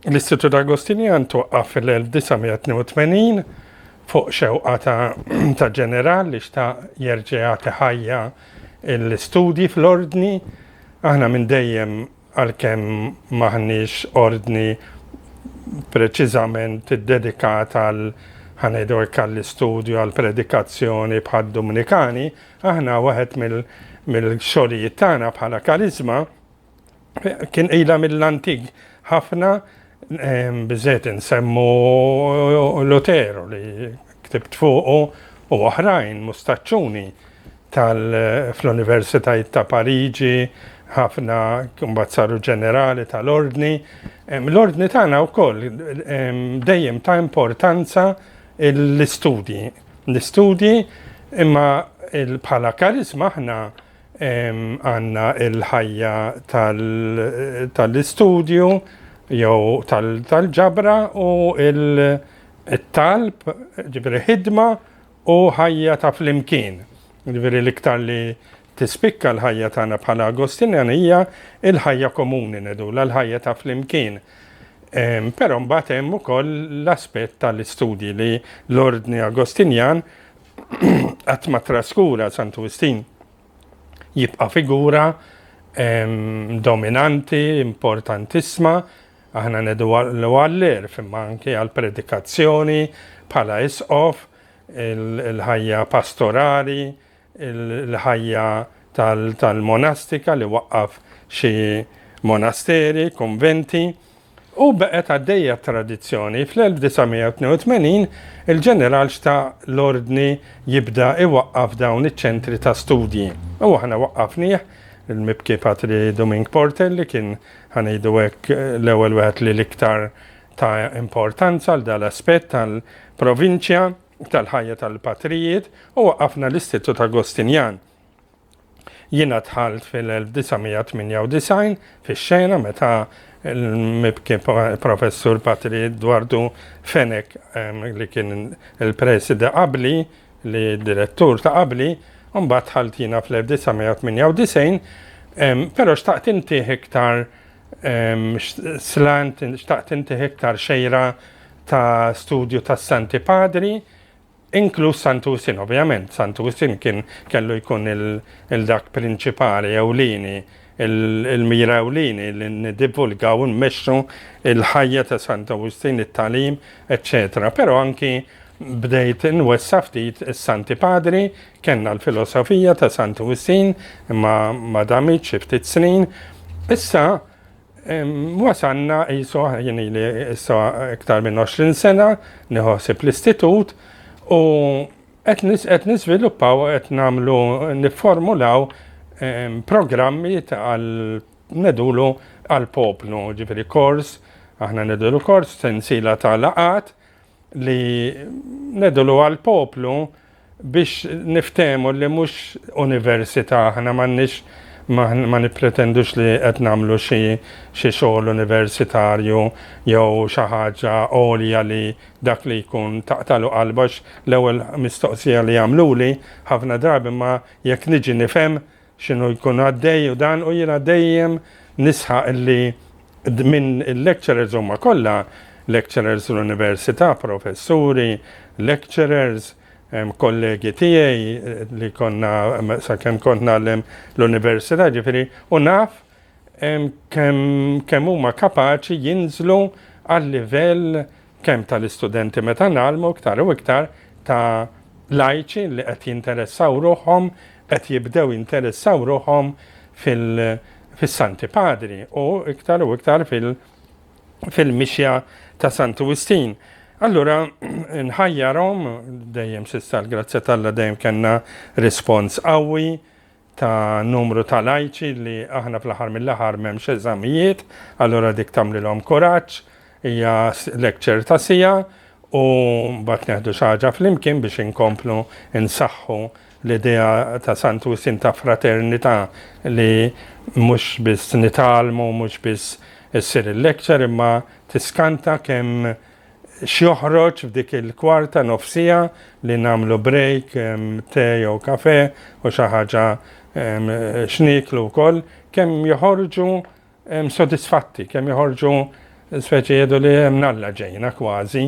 L-Istitut Agostinian twaqqa fil-1982 fuq xewqa ta' ġeneral li xta' jerġeja teħajja l-istudji fl-ordni. Aħna minn dejjem għalkemm m'aħniex ordni preċiżament iddedikat għal ħa ngħidu hekk għall-istudju għall-predikazzjoni bħad-Dumnikani, aħna waħed mill-xogħlijiet tagħna bħala kariżma kien ilha mill-antik ħafna Biżżejjed insemmu Luteru li ktibt fuqu u oħrajn mustaċċuni tal-fl-Universitajiet ta' Pariġi, ħafna kumbat saru ġenerali tal-ordni. L-ordni tagħna wkoll dejjem ta' importanza l-istudji. L-istudji imma bħala karizma aħna Għandna l-ħajja tal-istudju jew tal-ġabra u t-talb, ġifieri ħidma u ħajja ta' flimkien. Ġifieri l-iktar li tispikka l-ħajja tagħna bħala Agostinjani hija l-ħajja komuni ngħidulha, l-ħajja ta' flimkien. Però mbagħad hemm ukoll l-aspett tal-istudji li l-Ordni Agostinjan qatt ma traskura Santu Wistin jibqa' figura dominanti, importantissima, aħna nedu għall-għallir, imma anke għall-predikazzjoni bħala isqof, il-ħajja pastorali, il-ħajja tal-monastika li waqqaf xi monasteri, konventi. U baqgħet għaddejja t-tradizzjoni. Fl-1982, il-Ġeneral xta' l-Ordni jibda iwaqqaf dawn iċ-ċentri ta' studji. U aħna waqqafnieh, il-mibki Patri Duming Porter li kien, ħa ngħidu hekk, l-ewwel wieħed li l-iktar ta importanza għal dan l-aspett tal-provinċja, tal-ħajja tal-patrijiet, u waqqafna l-Istitut Agostinjan. Jiena dħalt fil-1998 fix-xena meta l-mibki professur Patri Edwardu Fenek li kien il-presida qabli li direttur ta' qabli, mbagħad dħalt jiena fl-1998, però xtaqt intih iktar slant, xtaqt intih iktar xejra ta' studju tas-Santi Padri, Inkluż Sant'Usin, ovvjament, Sant'Usin kien kellu jkun il-dak prinċipali ewlieni, il-mira ewlieni li niddivulgaw u nmexxu l-ħajja ta' Sant'Awustin, it-tagħlim, eċċetera. Però anki bdejt nwessa' ftit is-Santi Padri, kellna l-filosofija ta' Sant'Usin imma ma damitx xi ftit snin. Issa Wasalna qisu, jien ili issa iktar minn 20 sena nieħu ħsieb l-istitut u qed niżviluppaw u qed nagħmlu nifformulaw programmi għal ngħidulu għall-poplu, ġifieri kors, aħna ngħidulu kors, sensiela ta' laqgħat li nedulu għal poplu biex niftehmu li mhux università aħna m'għandniex ma nippretendux li qed nagħmlu xi xi xogħol universitarju jew xi ħaġa għolja li dak li jkun taqtalu qalbax l-ewwel mistoqsija li jagħmluli ħafna drabi ma jekk niġi nifhem x'inhu jkun għaddej u dan u jiena dejjem nisħaq li minn il-lecturers huma kollha lecturers l-università, professuri, lecturers, kollegi tiegħi li konna sakemm kont nagħlem l-università ġifieri u naf kemm huma kapaċi jinżlu għal livell kemm tal-istudenti meta ngħallmu iktar u iktar ta' lajċi li qed jinteressaw ruħhom, qed jibdew jinteressaw ruħhom fis-Santi Padri u iktar u iktar fil-mixja ta' Santu Wistin. Allura, nħajjarhom dejjem sissa l-grazzja tal-la dejjem kellna rispons qawwi, ta' numru ta' lajċi li aħna fl-aħħar mill-aħħar m'hemmx eżamijiet, allura dik tagħmlilhom kuraġġ, hija lecture ta' siegħa u mbagħad neħdu xi ħaġa flimkien biex inkomplu nsaħħu l-idea ta' Sant Wistin ta' fraternità li mhux biss nitgħallmu, mhux biss issir il-lecture imma tiskanta kemm x'joħroġ f'dik il-kwart ta' nofsiegħa li nagħmlu break, te jew kafè u xi ħaġa x'nieklu wkoll, kemm joħorġu sodisfatti, kemm joħorġu speċi jgħidu li hemm Alla ġejna kważi.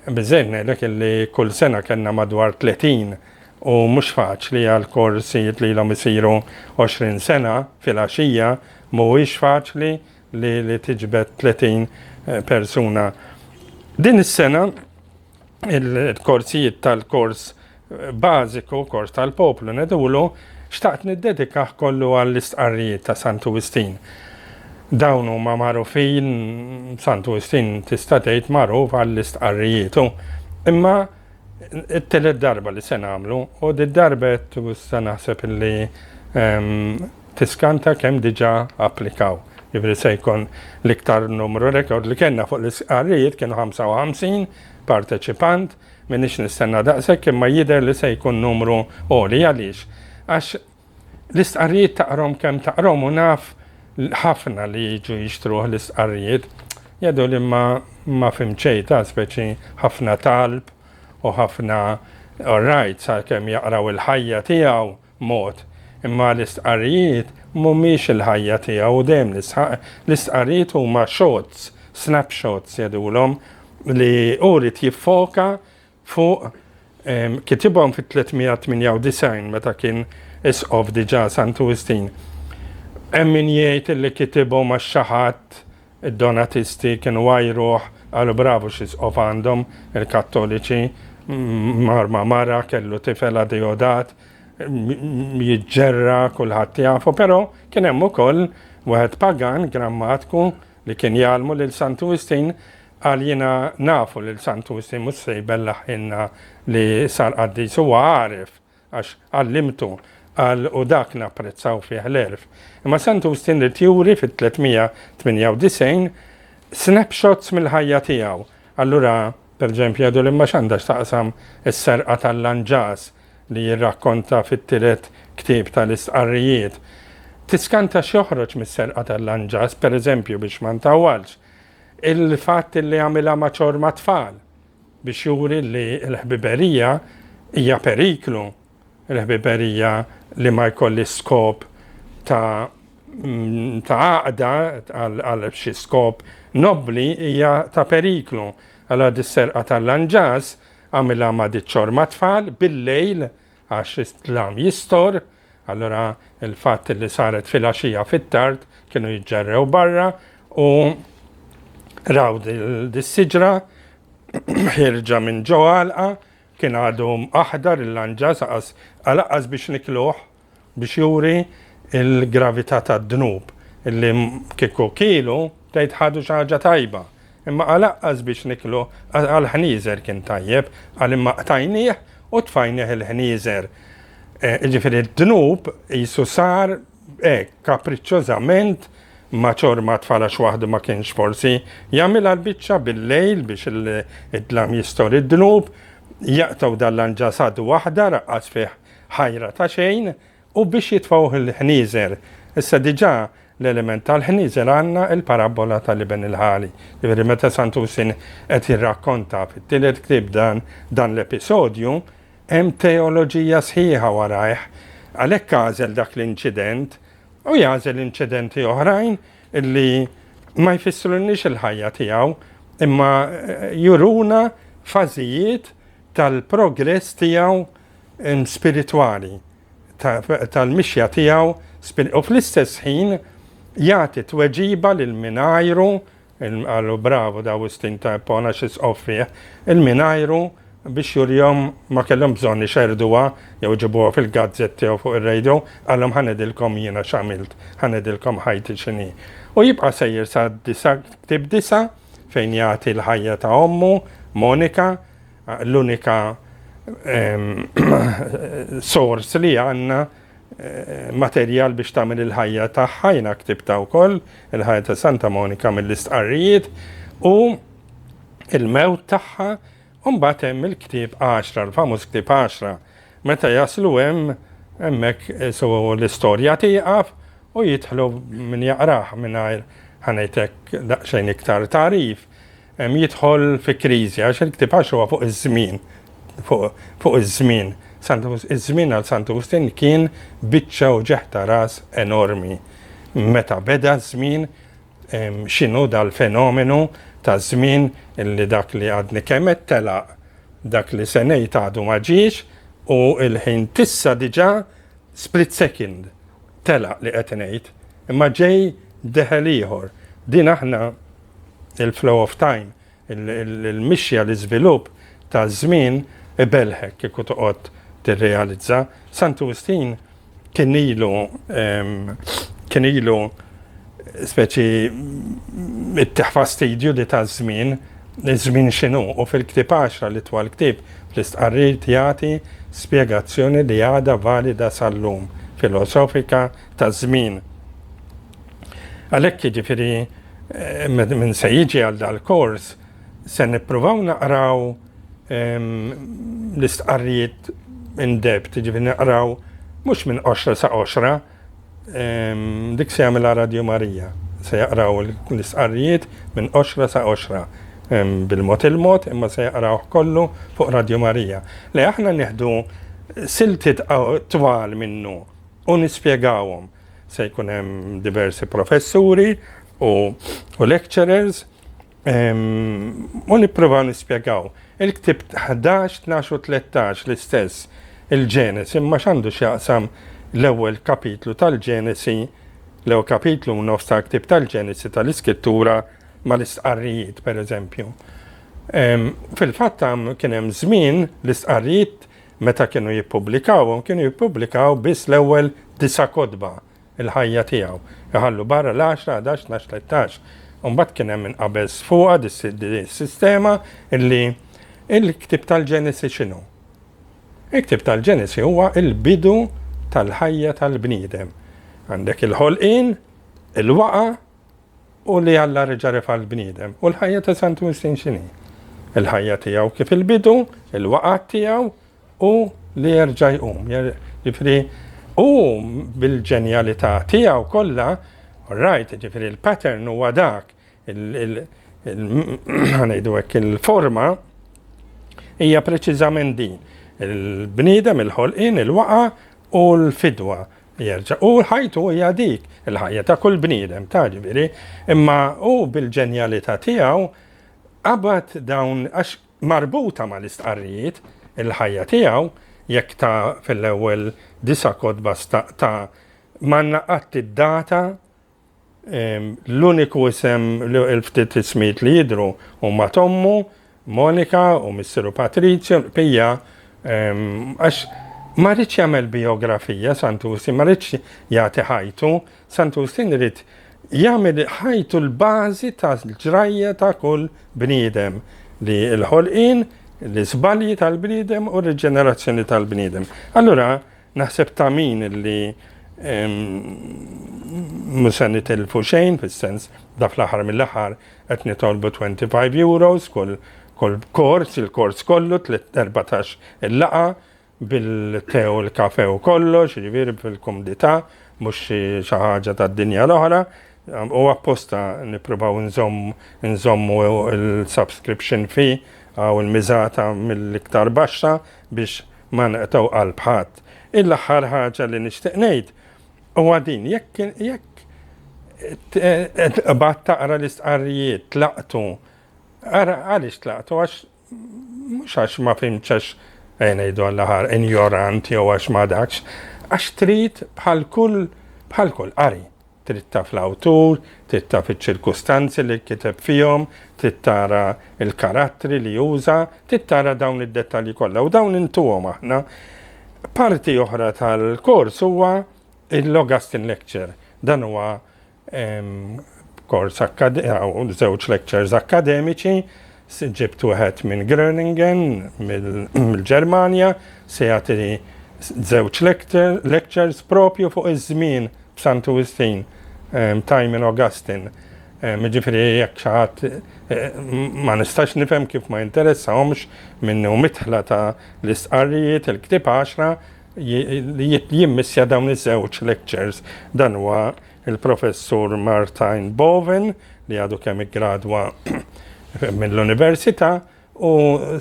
Biżżejjed ngħidlek illi kull sena kellna madwar 30 u mhux faċli għal korsijiet li ilhom isiru 20 sena fil-għaxija mhuwiex faċli li li tiġbed 30 persuna. Din is-sena il-korsijiet tal-kors bażiku, kors tal-poplu nedulu, xtaqt niddedikah kollu għall-istqarrijiet ta' Santu Wistin. Dawn huma magħrufin Santu Wistin tista' tgħid magħruf għall-istqarrijietu. Imma it-telet darba li se nagħmlu u d-darba qed naħseb li ehm, tiskanta kemm diġà applikaw. Jiġifieri se jkun l-iktar numru rekord li kellna fuq l-istqarrijiet kienu 55 parteċipant, m'iniex nistenna daqshekk imma jidher li se jkun numru għoli. Għaliex? Għax l-istqarrijiet taqrahom kemm taqrahom u naf ħafna li jiġu jixtruh l-istqarrijiet. Jadu li ma ma fim xejn ta' speċi ħafna talb u ħafna all right sa kemm jaqraw il-ħajja tiegħu. mod. Imma l-istqarrijiet mhumiex il-ħajja tiegħu u dejjem nisħaq, l-istqarrijiet huma shots, snapshots jgħidulhom, li hu ried jiffoka fuq kitibhom fit-398 meta kien Isqof diġà Santu Wistin. Hemm min jgħid li kitibhom għax xi ħadd Id-Donatisti kienu għajruh qalu bravu x'isqof għandhom, il-Kattoliċi mar ma' mara kellu tifel Adeodat jiġġerra kulħadd jafu, però kien hemm ukoll wieħed pagan grammatku li kien jgħallmu lil Santu Wistin qal jiena nafu lil Santu Wistin mhux se jbellaħħilna li sar qaddis huwa għaref. Għax għallimtu, qal, u dak napprezzaw fih l-għerf. Imma Sant Ustin ried juri fit-398 snapshots mill-ħajja tiegħu. Allura, perġempju, jgħidu li ma x'għandha x'taqsam is-serqa tal-lanġas li jirrakkonta fit-tielet ktieb tal-Istqarrijiet. Tiskanta x'joħroġ mis-serqa tal-lanġas, pereżempju, biex ma ntawwalx, il-fatt li għamilha ma' ċorma tfal. Biex juri li l-ħbiberija hija periklu, il-ħbiberija li ma jkollhiex skop ta' ta' għaqda għal xi skop nobbli hija ta' periklu. Allura dis-serqa tal-lanġas għamilha ma' diċ-ċorma tfal bil-lejl għax id-dlam jistor, Allura il-fatt li saret filgħaxija fit-tard kienu jiġġerrew barra u raw dis-siġra ħirġa minn ġo għalqa kien għadu aħdar il-lanġa saqas għalaqqas biex nikluh biex juri il-gravità tad-dnub illi kieku kielu tgħid ħadu xi ħaġa tajba. Imma għalaqqas biex niklu, għall-ħnieżer kien tajjeb, qal imma qtajnieh u tfajnieh il-ħnieżer. Jiġifieri d-dnub qisu sar hekk kapriċċożament ma' ċorma tfal għax waħdu ma kienx forsi jagħmilha l-biċċa bil-lejl biex id-dlam jistor id-dnub, jaqtgħu dan l-anġasad waħda raqqas fih ħajra ta' xejn, U biex jitfgħuh il-ħnieżer. Issa diġà l-element tal-ħnieżer għandna l-parabbola tal-iben il-ħali. Jiġifieri meta Sant'Usin qed jirrakkonta fit-tielet ktieb dan dan l-episodju, hemm teoloġija sħiħa warajh. Għalhekk għażel dak l-inċident u jagħżel inċidenti oħrajn li ma jfissrulniex il-ħajja tiegħu imma juruna fażijiet tal-progress tiegħu spiritwali tal-mixja tiegħu u fl-istess ħin jagħti tweġiba lil min għajru, qalu bravu d' Awustin ta' Ippona xi sqof fih, il min għajru biex jurihom ma kellhom bżonn ixerrduha jew iġibuha fil-gazzetta jew fuq ir-radio, qalhom ħa ngħidilkom jiena x'għamilt, ħa ngħidilkom ħajti x'inhi. U jibqa' sejjer sa ktieb disa' fejn jagħti l-ħajja ta' ommu, Monika, L-unika sors li għandna materjal biex tagħmel il-ħajja tagħha, jiena ktibta wkoll il-ħajja ta' Santa Monika mill-istqarrijiet u il-mewt tagħha u mbagħad hemm il-ktieb 10, l-famuż ktieb 10. Meta jaslu hemm hemmhekk eh, so l-istorja tieqaf u jidħlu min jaqrah mingħajr ħanejtek daqsxejn iktar tarif. jidħol fi kriżi għax il-ktieb għax huwa fuq iż-żmien, fuq iż-żmien. Iż-żmien għal Sant Agustin kien biċċa u ġeħta ras enormi. Meta beda ż-żmien x'inhu dal-fenomenu ta' żmien li dak li għadni kemm qed telaq dak li se ngħid għadu ma ġiex u l-ħin tissa diġà split second telaq li qed ngħid imma ġej deħel ieħor. Din aħna il-flow of time, il-mixja, l-iżvilupp taż-żmien ibellħek kieku toqgħod tirrealizza. Santu Wistin kien ilu kien ilu speċi it-teħfa stidju di ta' żmien, żmien x'inhu u fil-ktieb 10 li twal ktieb fl-istqarrir jagħti spjegazzjoni li għadha valida sal-lum filosofika ta' żmien. Għalhekk jiġifieri min se jiġi għal dal-kors se nippruvaw naqraw l-istqarrijiet in depth, jiġifieri naqraw mhux minn qoxra sa qoxra, dik se jagħmilha Radio Marija, se jaqraw l-istqarrijiet minn qoxra sa qoxra bil-mod il-mod imma se jaqrawh kollu fuq Radio Marija. Le aħna nieħdu siltiet twal minnu u nispjegawhom. Se jkun hemm diversi professuri u, u lecturers u nipprova nispjegaw. Il-ktib 11, 12 u 13 l-istess il-ġenes imma x'għandu x'jaqsam l-ewwel kapitlu tal-ġenesi l-ewwel kapitlu u nofs tal-ktib tal-ġenesi tal-iskrittura mal-istqarrijiet pereżempju. Fil-fatt kien hemm żmien l-istqarrijiet Meta kienu jippubblikawhom, kienu jippubblikaw biss l-ewwel disa' kotba, il-ħajja tiegħu, iħallu barra l-għaxra, ħadax, tnax, tlettax. U mbagħad kien hemm minn qabel sfuqa di s-sistema li l-ktieb tal-Ġenesi x'inhu? Il-ktieb tal-Ġenesi huwa l-bidu tal-ħajja tal-bniedem. Għandek il-ħolqien, il-waqgħa, U li Alla reġa' refa' l-bniedem. U l-ħajja ta' Santu Wistin x'inhi? Il-ħajja tiegħu kif il-bidu, il-waqgħat tiegħu u li jerġa' jqum. Ġifieri u bil-ġenjalità tiegħu kollha, rajt, ġifieri l-pattern huwa dak, ngħidu hekk il-forma hija preċiżament din. Il-bniedem, il-ħolqien, il-waqgħa u l-fidwa Jerġa'. U ħajtu hija dik, il-ħajja ta' kull bniedem, ta' ġifieri, imma hu bil-ġenjalità tiegħu qabad dawn għax marbuta mal-istqarrijiet il-ħajja tiegħu, jekk ta' fil-ewwel disa' kotba staqta' m'għandna qatt id-data L-uniku isem, il-ftit ismijiet li jidhru huma t'ommu, Monika, u missieru Patrizio, Pija, għax ma rridx jagħmel bijografija Sant'Ustin, ma rridx jagħti ħajtu, Sant'Ustin irid jagħmel ħajtu l-bażi tal-ġrajja ta' kull bniedem li l-ħolqien, l-iżbalji tal-bniedem u r-riġenerazzjoni tal-bniedem. Allura, Naħseb ta' min li mhux se nitilfu xejn fis-sens da fl-aħħar mill-aħħar qed nitolbu 25 euros kull kull kors, il-kors kollu 14 il-laqa bil-tew il-kafe u kollox, jiġifieri fil-kumdità mhux xi ħaġa tad-dinja l-oħra. U apposta nippruvaw nżommu il-subscription fee għaw il-miżata mill-iktar baxxa biex Ma nqtgħu qalb ħadd. Il-aħħar ħaġa li nixtieq ngħid huwa din, jekk jekk tqbad taqra l-istqarrijiet tlaqtu, ara għaliex tlaqtu għax mhux għax ma fimx għax eh, ngħidu għall-aħħar injorant jew għax ma dakx, għax trid bħal kull bħal kull qari Trid taf l-awtur, trid taf iċ-ċirkustanzi li kiteb fihom, trid tara l-karattri li uża, trid tara dawn id-dettalji kollha u dawn intuhom aħna. Parti oħra tal-kors huwa l-Augustine Lecture. Dan huwa kors żewġ lectures akkademiċi Se ġibt wieħed minn Groningen, mill-Ġermanja, se jagħti żewġ lectures propju fuq iż-żmien b'Santu Wistin, Time in Augustine. Jiġifieri jekk xi ħadd ma nistax nifhem kif ma jinteressahomx minnu midħla ta' l-istqarrijiet, il-ktieb għaxra, li jimmissja dawn iż-żewġ lectures. Dan huwa Il-Professur Martijn Boven, li għadu kemm iggradwa mill-Università u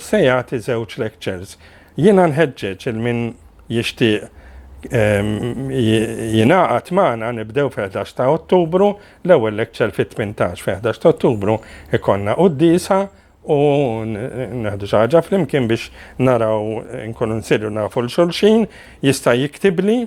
se jagħti żewġ lectures. Jiena nħeġġeġ il min jixtieq jingħaqad magħna nibdew fil-11 ta' Ottubru, l-ewwel lecture fit-18 fil-11 ta' Ottubru ikonna qudiesa u neħdu xi ħaġa flimkien biex naraw nkunu nsiru nafu l xulxin, jista' jiktibli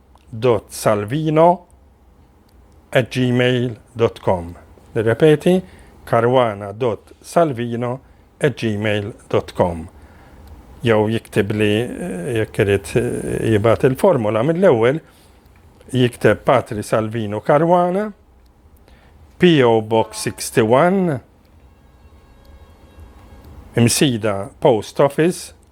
caruana.salvino at gmail dot com Nirrepeti caruana.salvino at gmail dot com Jew jiktib li jekk irid jibgħat il-formula mill-ewwel jikteb Patri Salvino Caruana PO Box 61 Imsida Post Office